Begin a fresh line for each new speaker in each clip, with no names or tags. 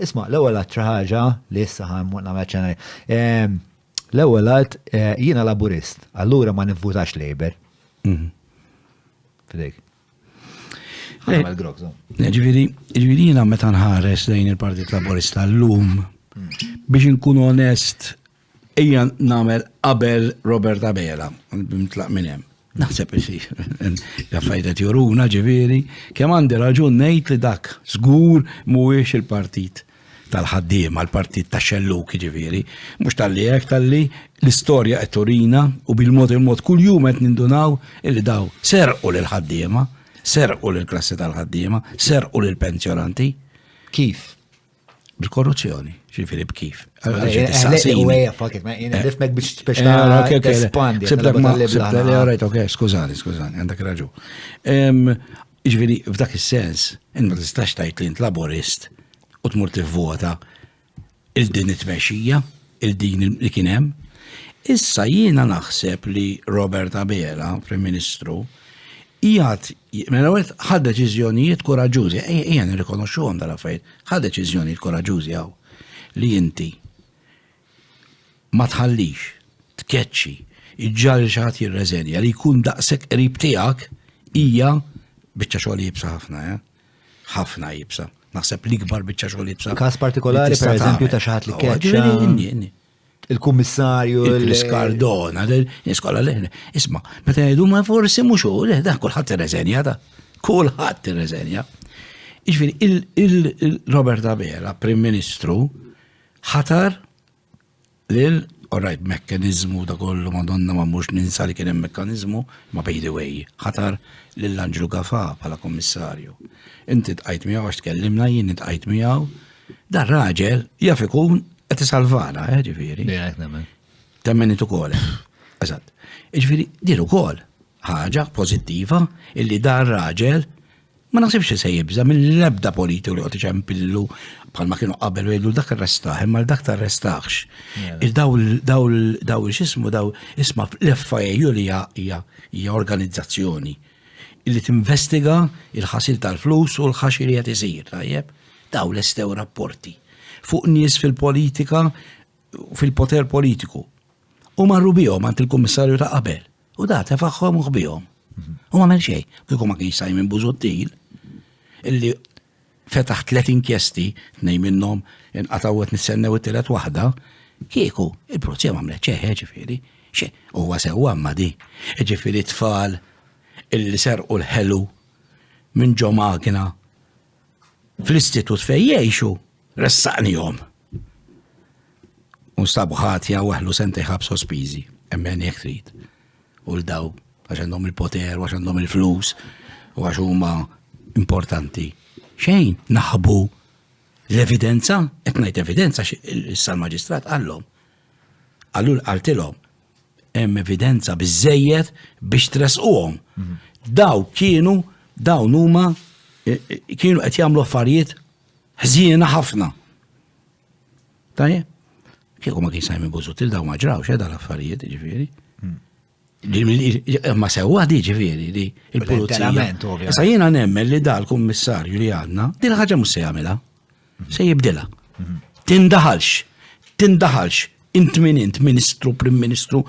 Isma', l-ewwel għadt xi ħaġa li issa ħa mmur nagħmel ċena li. Ehm, l-ewwel għadd eh, jiena Laburist, allura ma nivvutax Labour. Mhm. Fidejk. Eh, Għamel grok, so. Eh, Ġifieri, ġifieri jiena meta nħares lejn il-Partit Laburista llum biex inkun onest Ejja nagħmel qabel Robert Abela, bimtlaq minn hemm. Naħseb isi, jaffajta tjuruna ġiviri, kem għandi raġun nejt li dak, zgur muwiex il-partit tal-ħaddim, għal-partit ta' xelluk ġiviri, mux tal-li jek tal-li l-istoria etorina u bil-mod il-mod kull jum għet nindunaw illi daw serqu l-ħaddima, serqu l-klassi tal-ħaddima, serqu l-pensjonanti. Kif? Bil-korruzzjoni, ġifiri b'kif. Allora, ġiet Eħlejt tistaqsini. uwejja fakit, ma jina nifmek biex biex Eh, ta' ok, ok, le. tespandi. Sibtek għal-darba ma- tal-libla sibtek- le, ħana. alright, ok, skużani, skużani, għandek raġu. Em, Ġviri, f'dak il-sens, int ma tistax tajt li int laborist u tmur tivvota il-din it-tmexxija. il din li kien hemm. Issa jiena naħseb li Robert Abela, Prim Ministru, jgħat, mela għet ħad deċizjonijiet koraġużi, ejja nirrikonoxxu għom dal-affarijiet, ħad deċizjonijiet koraġużi għaw li inti ma tħallix, tkeċċi, iġġar xaħat jirreżenja li jkun daqsek qrib tiegħek hija biċċa xogħol jibsa ħafna, eh? ħafna jibsa. Naħseb li kbar biċċa xogħol jibsa. Każ partikolari per eżempju ta' xaħat li keċċa. Il-kummissarju. Il-Skardona, l-iskola l Isma, meta jgħidu ma forsi mhux u le, da kulħadd irreżenja da. Kulħadd irreżenja. Iġifieri il-Robert Abela, Prim Ministru, ħatar Lil, orajt mekkanizmu ta' kollu madonna ma mhux ninsa li kien hemm mekkanizmu, ma by the way, ħatar lil Anġlu Gafa bħala kummissarju. Inti tqajt miegħu għax tkellimna jien tqajt miegħu. Dan raġel jaf ikun qed isalvana, eh, ġifieri. Temmen it ukoll. Eżatt. Ġifieri, din ukoll Ħaġa pożittiva illi dan raġel ma naħsibx li se jibża mill-ebda politiku li qed iċempillu bħalma kienu qabel u jgħidu dak arrestaħ imma dak tarrestaħx. Daw x'ismu daw isma' l-FIU li hija organizzazzjoni li tinvestiga il-ħasil tal-flus u l-ħaxi li qed isir tajjeb. Daw l-estew rapporti fuq nies fil-politika fil-poter politiku. U marru bihom għand il-kummissarju ta' qabel. U da tefaħħom u ħbihom. U ma għamel xejn, kieku ma kienx Simon Buzuttil, illi fetaħ tlet inkjesti, nej minnhom inqataw qed nistennew it-tielet waħda, kieku il-prozja ma għamlet ċeħe ġifieri, xe huwa sewwa ma di. Ġifieri tfal illi serqu l-ħelu minn ġo magna fl-istitut fejn jgħixu ressaqnihom. U sab ħatja u għahlu sentej ħab sospizi, emmen jek trid. U l-daw, għax għandhom il-poter, għax għandhom il-flus, u għax huma importanti. Xejn, naħbu l-evidenza, qed ngħid evidenza issa l-maġistrat għallhom. Għallu għaltilhom hemm evidenza biżejjed biex tresquhom. Mhm. Daw kienu dawn huma eh, eh, kienu qed jagħmlu affarijiet Ħżiena ħafna. Tajjeb? Kieku ma kien Simon Buzutil daw ma ġrawx eh, dal-affarijiet, ġifieri. Hmm. Ma sewwa di ġifieri li l-pulizija. Issa jiena nemmen li dal-kummissarju li għandna, din ħaġa mhux se jagħmilha. Hmm. Se jibdilha. Hmm. Tindaħalx, tindaħalx, int min int, ministru, prim ministru,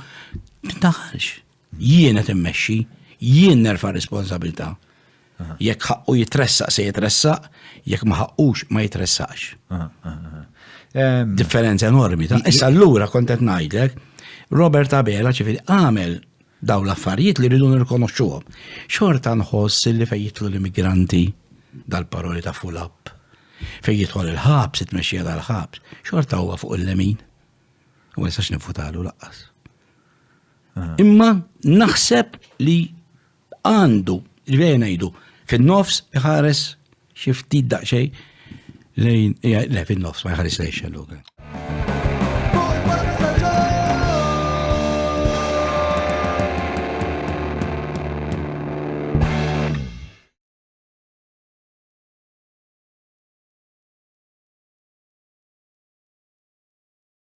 tindaħalx. Jien qed immexxi, jien nerfa' r-responsabilità. Jekk ħaqqu jitressaq se jitressaq, jekk ma ħaqqux ma jitressaqx. Differenza enormi. Issa allura kont qed ngħidlek, Robert Abela ċifieri għamel daw l-affarijiet li rridu nirkonoxxuhom. Xorta nħoss li fejn jitlu l-immigranti dal-paroli ta' full up, fejn jidħol il-ħabs, it-tmexxija tal-ħabs, xorta huwa fuq il-lemin. U ma nistax nifutalu laqqas. Imma naħseb li għandu, ġveri ngħidu, fin-nofs iħares xi ftit daqsxejn lejn, le fin-nofs ma jħares lejn xelluga.